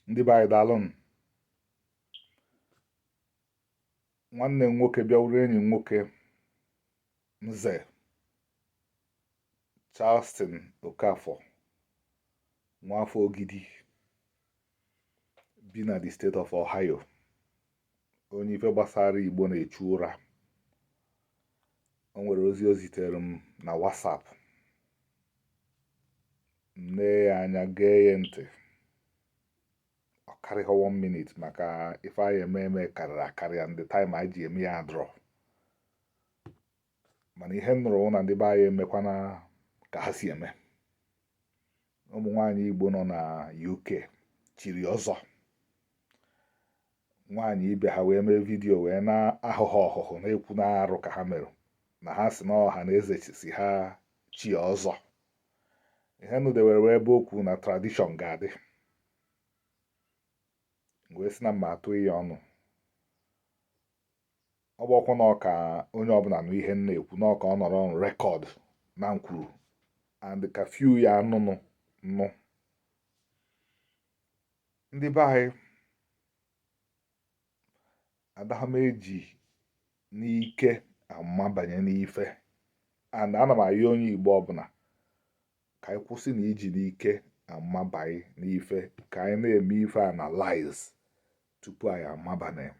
ndị be anyị daalụnụ nwanne m nwoke bịa wụrụ enyi m nwoke nze Charleston Okafor nwafọ Ogidi bi na the state of Ohio onye ife gbasara igbo na-echu ụra o nwere ozi o zitere m na WhatsApp m nee ya anya gee ya ntị ọ karịghị one minute maka ife anyị eme eme karịrị akarị and the time anyị ji eme ya adịrọ mana ihe m nụrụ wụ na ndị be anyị emekwana ka ha si eme ụmụ nwaanyị Igbo nọ na UK chiri ọzọ nwaanyị ibe ha wee mee video wee na-ahụhụ ọhụhụ na-ekwu na arụ ka ha mere na ha si na ọha na eze si ha chie ọzọ ihe nụdewere wee ebe okwu na tradition ga-adị wee sị na m ma-atụ ya ọnụ ọ bụ ọkwa na ọ ka onye ọbụla nụ ihe m na-ekwu na ọ ka ọ nọrọ na record na m kwuru and ka few ya anụnụ nụ ndị be anyị adaghị m eji n'ike amabanye n'ife and ana m ayọ onye Igbo ọbụla ka anyị kwụsị na iji n'ike amabanye n'ife ka anyị na-eme ife analyze tupu anyị amaba na ya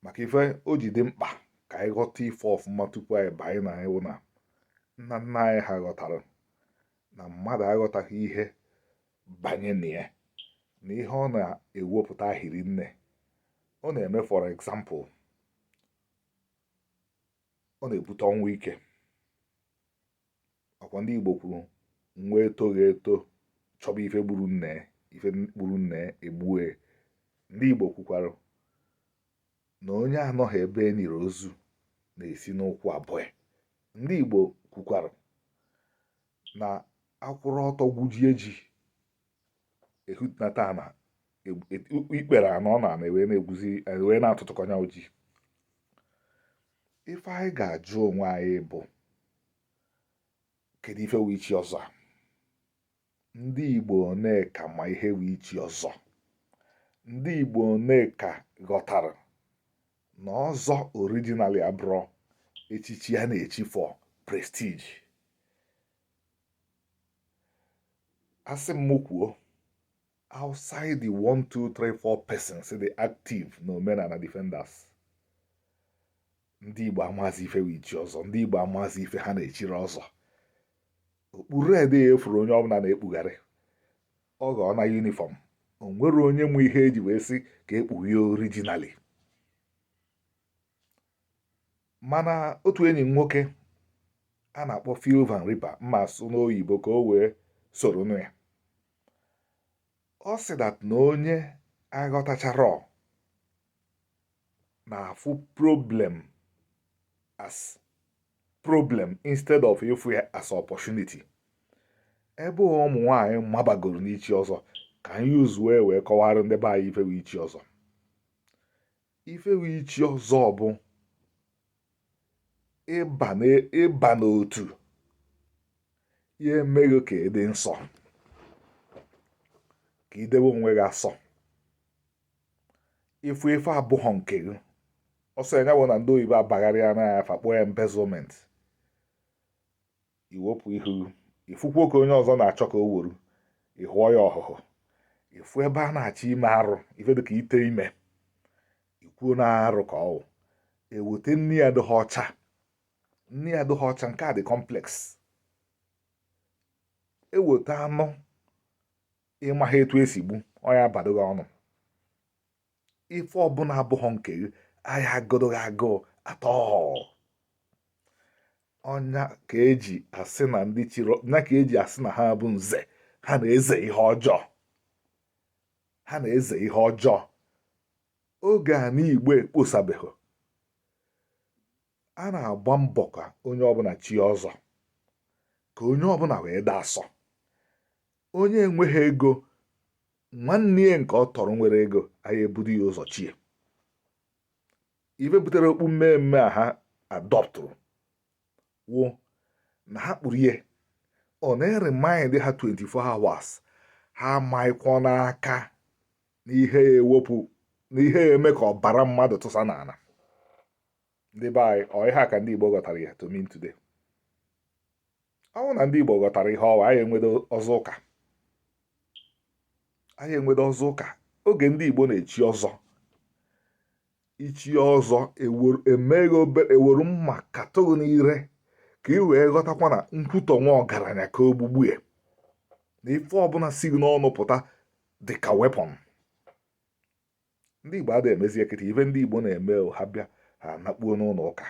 maka ife o ji dị mkpa ka anyị ghọta ife ọfụma tupu anyị banye na ya wụ na nna nna anyị ha ghọtara na mmadụ aghọtaghị ihe banye na ya na ihe ọ na-ewepụta hiri nne ọ na-eme for example ọ na-ebute ọnwụ ike ọkwa ndị Igbo kwuru nwa etoghị eto chọba ife gburu nne ife gburu nne egbue ndị Igbo kwukwara na onye anọghị ebe e niri ozu na-esi n'ụkwụ abọ ya ndị Igbo kwukwara na a kwụrụ ọtọ gwujie ji e hunata ana ikpere anọ n'ana e wee na-egwuzi e wee na-atụtụkọ nya wụ ji ife anyị ga-ajụ onwe anyị bụ kedu ife wụ ichi ọzọ a ndị Igbo one ka ma ihe wụ ichi ọzọ ndị Igbo one ka ghọtara na ọzọ originally abụrọ echichi a na-echi for prestige asị m kwuo outside the 1 2 3 4 persons dị active na omenala defenders ndị Igbo amazi ife wụ ichi ọzọ ndị Igbo amazi ife ha na-echiri ọzọ okpu red a a fụrụ onye ọbụla na-ekpugharị ọ ghọọna uniform o nwere onye ma ihe eji wee sị ka e kpuwe ya originally mana otu enyi m nwoke a na-akpọ Phil Van Riper m ma-asụ n'oyibo ka o wee soro nụ ya ọ sị that na onye aghọtacharọ na-afụ problem as problem instead of ịfụ ya as opportunity ebe ụmụ nwaanyị mabagoro n'ichi ọzọ ka anyị use-uo wee kọwara ndị be anyị ife wụ ichi ọzọ ife wụ ichi ọzọ bụ ịba n'otu ya-eme gị ka ị dị nsọ ka i dewe onwe gị asọ ị fụ ife abụghọ nke gị ọ sọ ya bụ na ndị oyibo abagharịana ya afa kpọọ ya embezzlement i wepụ ihu ị fụkwuo ka onye ọzọ na-achọ ka o wuru ị hụọ ya ọhụhụ ị fụ ebe a na-achọ ime arụ ife dịka ite ime i kwuo na arụ ka ọ wụ eweta nni adịghị ọcha nni adịghị ọcha nke a dị complex eweta anụ ị maghị etu esi gbu ọ ya abadụ gị ọnụ ife ọbụla abụghọ nke gị aya agụdụ gị agụụ at all ọ nya ka eji asị na ndị chiri ọ nya ka eji asị na ha bụ nze ha na-eze ihe ọjọọ ha na-eze ihe ọjọọ oge ana Igbo ekposabeghị a na-agba mbọ ka onye ọbụla chie ọzọ ka onye ọbụla wee dị asọ onye enweghị ego nwanne ya nke ọ tọrọ nwere ego aya ebudu ya ụzọ chie ife butere okpu mmee mmee a ha adọptụrụ wụ na ha kpuru ya ọ na-eremind ha 24 hours ha amanyekwana aka n'ihe ewepụ n'ihe ya-eme ka ọbara mmadụ tụsa n'ala ndị be anyị ọ ihe a ka ndị Igbo ghọtara ya to mean today ọ bụrụ na ndị Igbo ghọtara ihe ọ wụ aya enwedu ọzọ ụka aya enwedu ọzọ ụka oge ndị Igbo na-echi ọzọ i chie ọzọ emeghe obere e were mma katụ gị n'ire ka ị wee ghọtakwa na nkwutọ nwa ọgaranya ka ogbugbu ya na ife ọbụla si gị n'ọnụ pụta dị ka weapon ndị Igbo adịghị emezi ekete ive ndị Igbo na-eme ha bịa ha nakpuo n'ụlọ ụka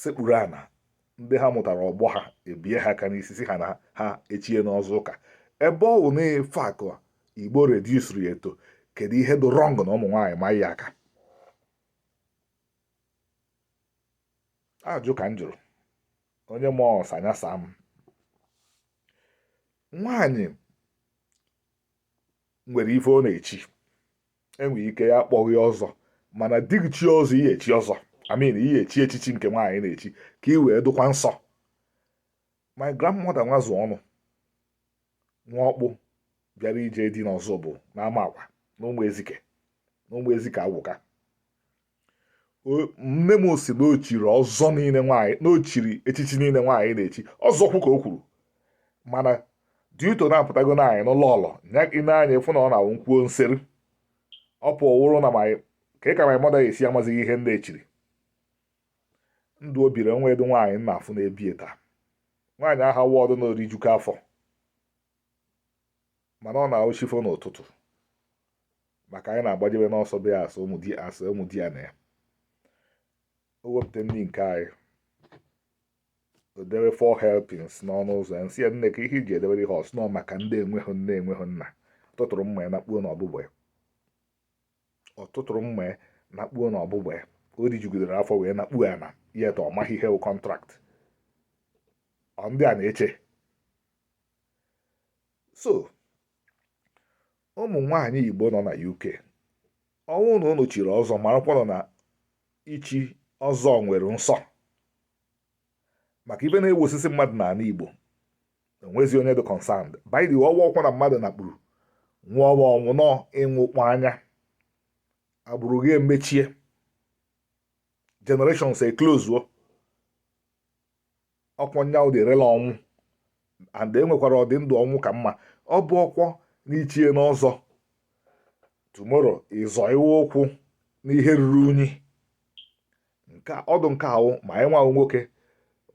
sekpuru ana ndị ha mụtara ọgbọ ha ebie ha aka n'isi sị ha na ha echiena ọzọ ụka ebe ọ bụ na ife a ka Igbo reduciri to kedu ihe dị wrong na ụmụ nwaanyị maa ya aka ajụ ka m jụrụ onye ma ọsa ya saa m nwaanyị nwere ife ọ na-echi e nwe ike akpọghị ya ọzọ mana di gị chie ọzọ ị ya-echi ọzọ I mean ị ya-echi echichi nke nwaanyị na-echi ka ị wee dụkwa nsọ my grandmother Nwazuọnụ nwa ọkpụ bịara ije di n'Ọzụbụ n'Amakwa na ụmụ ezike na ụmụ ezike agwụka nne m sị na o chiri ọzọ niile nwaanyị na o chiri echichi niile nwaanyị na-echi ọzọ kwu ka o kwuru mana due to na-apụtago na anyị n'ụlọ ọlọ ịna anya ịfụ na ọ na-awụ nkwuo nseri ọ pụọ wụrụ na ka ị ka my mother esi amazighị ihe ndị echiri ndụ o biri o nwedu nwaanyị m na-afụ na-ebie taa nwaanyị ahụ wọdụ na o rijuka afọ mana ọ na-awụ chi fo n'ụtụtụ maka anyị na-agbajebe n'ọsọ be ya as ụmụ di as ụmụdiana ya o wepụta nri nke anyị o debe four helpings n'ọnụ ụzọ ya m sị ya nne ka ihe i ji edebere ihe ọ sị na ọ maka ndị enweghị nne enweghị nna tụtụrụ mma ya nakpuo na ọbụbọ ya ọ tụtụrụ mma ya nakpuo na ọbụbọ ya o rijugidere afọ wee nakpuo ya na yet ọ maghị ihe wụ contract ọ ndị a na-eche so ụmụ nwaanyị igbo nọ na uk ọ wụ na ụnụ chiri ọzọ marakwanụ na ichi ọzọ nwere nsọ maka ive na-ewu osisi mmadụ n'ala igbo enwezi onye dị concerned by the way ọ kwa na mmadụ nakpuru wụ ọnwụ ọ wụ na ị nwụkpọ anya agbụrụ gị emechie generations eclosuo ọ kwa nya wụ the real ọnwụ and e nwekwara ọdị ndụ ọnwụ ka mma ọ bụ ọkwọ na i chiena ọzọ tomorrow ị zọiwe ụkwụ n'ihe ruru unyi nke ọdụ nke a wụ ma anyị nwa wụ nwoke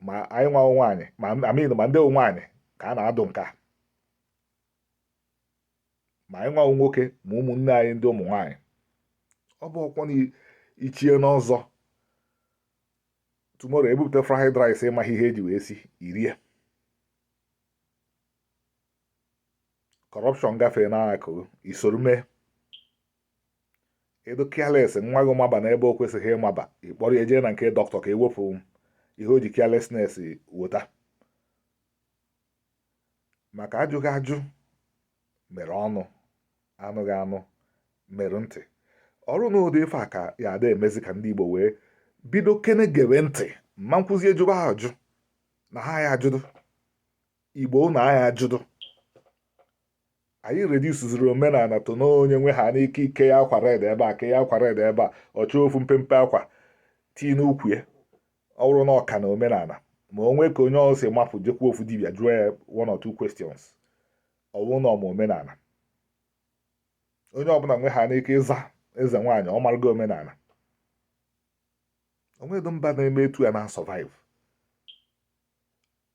ma anyị nwa wụ nwaanyị ma I mean ma ndị wụ nwaanyị ka a na-adụ nke a ma anyị nwa wụ nwoke ma ụmụnne anyị ndị ụmụ nwaanyị ọ bụ ọkwọ na i chiena ọzọ tomorrow e bupụta fried rice ị maghị ihe e ji wee sie i rie corruption gafee n'akụ i soro mee ị dụ careless nwa gị maba n'ebe o kwesịghị ịmaba ị kpọrọ ya jee na nke dọkịta ka e wepụ ihe o ji carelessness weta maka ajụghị ajụ mere ọnụ anụghị anụ mere ntị ọ bụrụ na ụdị ife a ka ya ada emezi ka ndị Igbo wee bido kene gebe ntị ma nkuzi ejụba ha ajụ na ha ya ajụdụ Igbo na ha ya ajụdụ anyị reduceziri omenala to na onye nwe ha n'ike ike ya akwa red ebe a ke ya akwa red ebe a ọ chọọ ofu mpempe akwa tii n'ukwu ya ọ bụrụ na ọ ka na omenala ma o nwe ka onye ọzọ si mapụ jekwu ofu dibịa jụọ ya one or two questions ọ bụrụ na ọ ma omenala onye ọbụla nwe ha n'ike ịza eze nwaanyị ọ marụgo omenala o nwedo mba na-eme etu a na-asurvive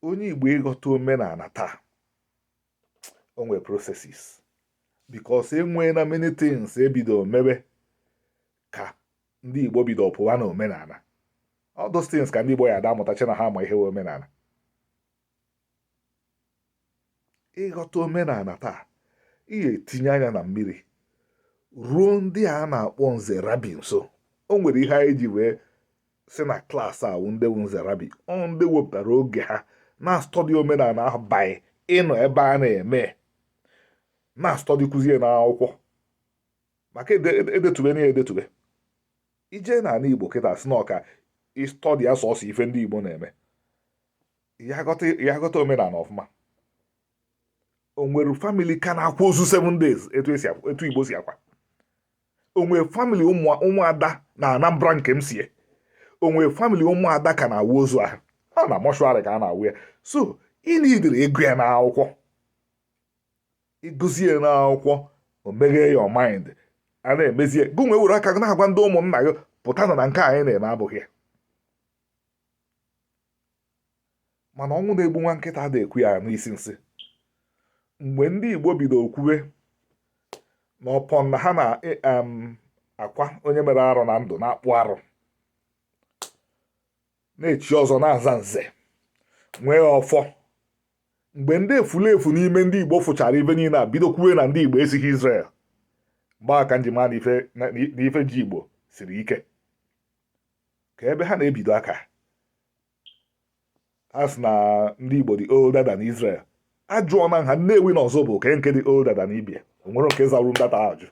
onye igbo ịghọta omenala taa o nwere processes because e nweena many things e bido mebe ka ndị igbo bido pụwa na omenala all those things ka ndị igbo ya ada amụtachi na ha ma ihe omenala ịghọta omenala taa ị ga-etinye anya na mmiri ruo ndị a na-akpọ nze rabbi nso o nwere ihe anyị ji wee sị na class a wụ ndị wu nze rabbi ọ ndị wepụtara oge ha na-astudy omenala ahụ by ịnọ ebe a na-eme na-astudy kụzie n'akwụkwọ maka edetube e, e na ya edetube ị jee n'ala igbo kịta sị na ọ ka ị study ya sọsọ ife ndị igbo na-eme ya aghọta omenala ọfụma o nwere family ka na-akwa ozu 7 days etu igbo si akwa o nwere family ụmụada na anambra nke m sie o nwere family ụmụada ka na-awụ ozu ahụ ọ na mortuary ka a na-awụ ya so ị needịrị ịgụ ya n'akwụkwọ ị gụzie ya n'akwụkwọ o meghee your mind a na-emezi ya gị nwa were aka na-agwa ndị ụmụnna gị pụta na nke anyị na-eme abụghị ya mana ọnwụ na-egbu nwa nkịta a da-ekwe ya anụ isi nsị mgbe ndị Igbo bido kwuwe na upon na ha na-akwa onye mere arụ na ndụ na-akpụ arụ na-echi ọzọ na-aza nze nwee ọfọ mgbe ndị efulefu n'ime ndị igbo fụchara ife niile a bido kwuwe na ndị igbo esighị Israel mgbe a ka m ji ma na ife ji igbo siri ike ka ebe ha na-ebido aka a sị na ndị igbo dị older than Israel a jụọ na ha nnewi na Ozubulu ke nke dị older than ibe ya o nwere nke zawuru ndata ajụ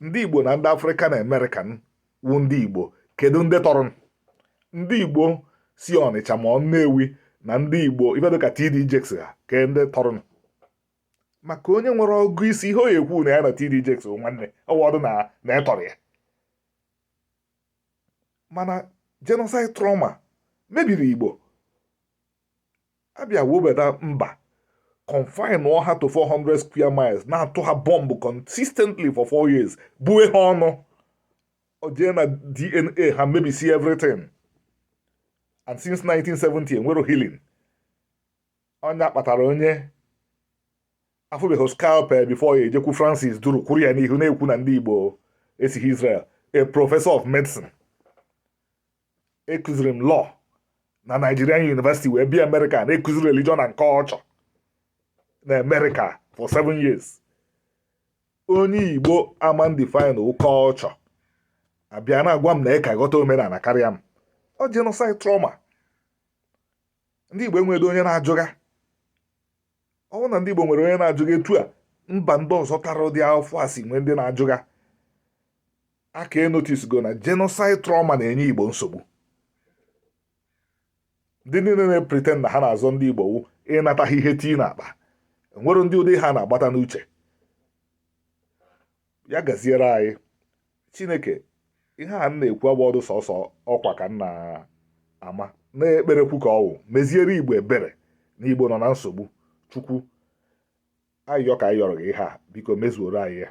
ndị Igbo na ndị African American wu ndị Igbo kedu ndị tọrọ ndị Igbo si Ọnịcha ma ọ Nnewi na ndị Igbo ife dịka TD Jakes ha ke ndị tọrọ maka onye nwere ọgụ isi ihe ọ ya ekwu na ya na TD Jakes nwanne ọ wọdụ na ị tọrọ ya mana genocide trauma mebiri Igbo a bịa webata mba confine ha to 400 square miles na-atụ ha bọmbụ consistently for 4 years bue ha ọnụ o jee na dna ha mebisie everything and since 1970 enwero healing onye kpatara onye afụbeghị scalpel before ya ejekwu francis duru kwuru ya n'ihu na-ekwu na ndị igbo esighị israel a professor of medicine ekuziri m law na Nigerian University wee bịa America na-ekuzi religion and culture na America for seven years onye Igbo amaghị define culture abịa na-agwa m na ị ka ghọta omenala karịa m ọ genocide trauma ndị Igbo enweghị onye na-ajụga ọ wụ na ndị Igbo nwere onye na-ajụga etu a mba ndị ọzọ tara ụdị afụfụ a si nwee ndị na-ajụga a ka enotice go na genocide trauma na-enye Igbo nsogbu ndị niile na-epretend na ha na-azọ ndị Igbo wụ ịnata ha ihe tii na akpa enwere ndị ụdị ha na-agbata n'uche ya gaziere anyị chineke ihe a na-ekwu agba ọdụ sọsọ ọkwa ka nna ama na-ekperekwu ka ọwụ meziere igbo ebere na igbo nọ na nsogbu chukwu ayịyọ ka anyị yọrọ gị ihe a biko mezuoro anyị ya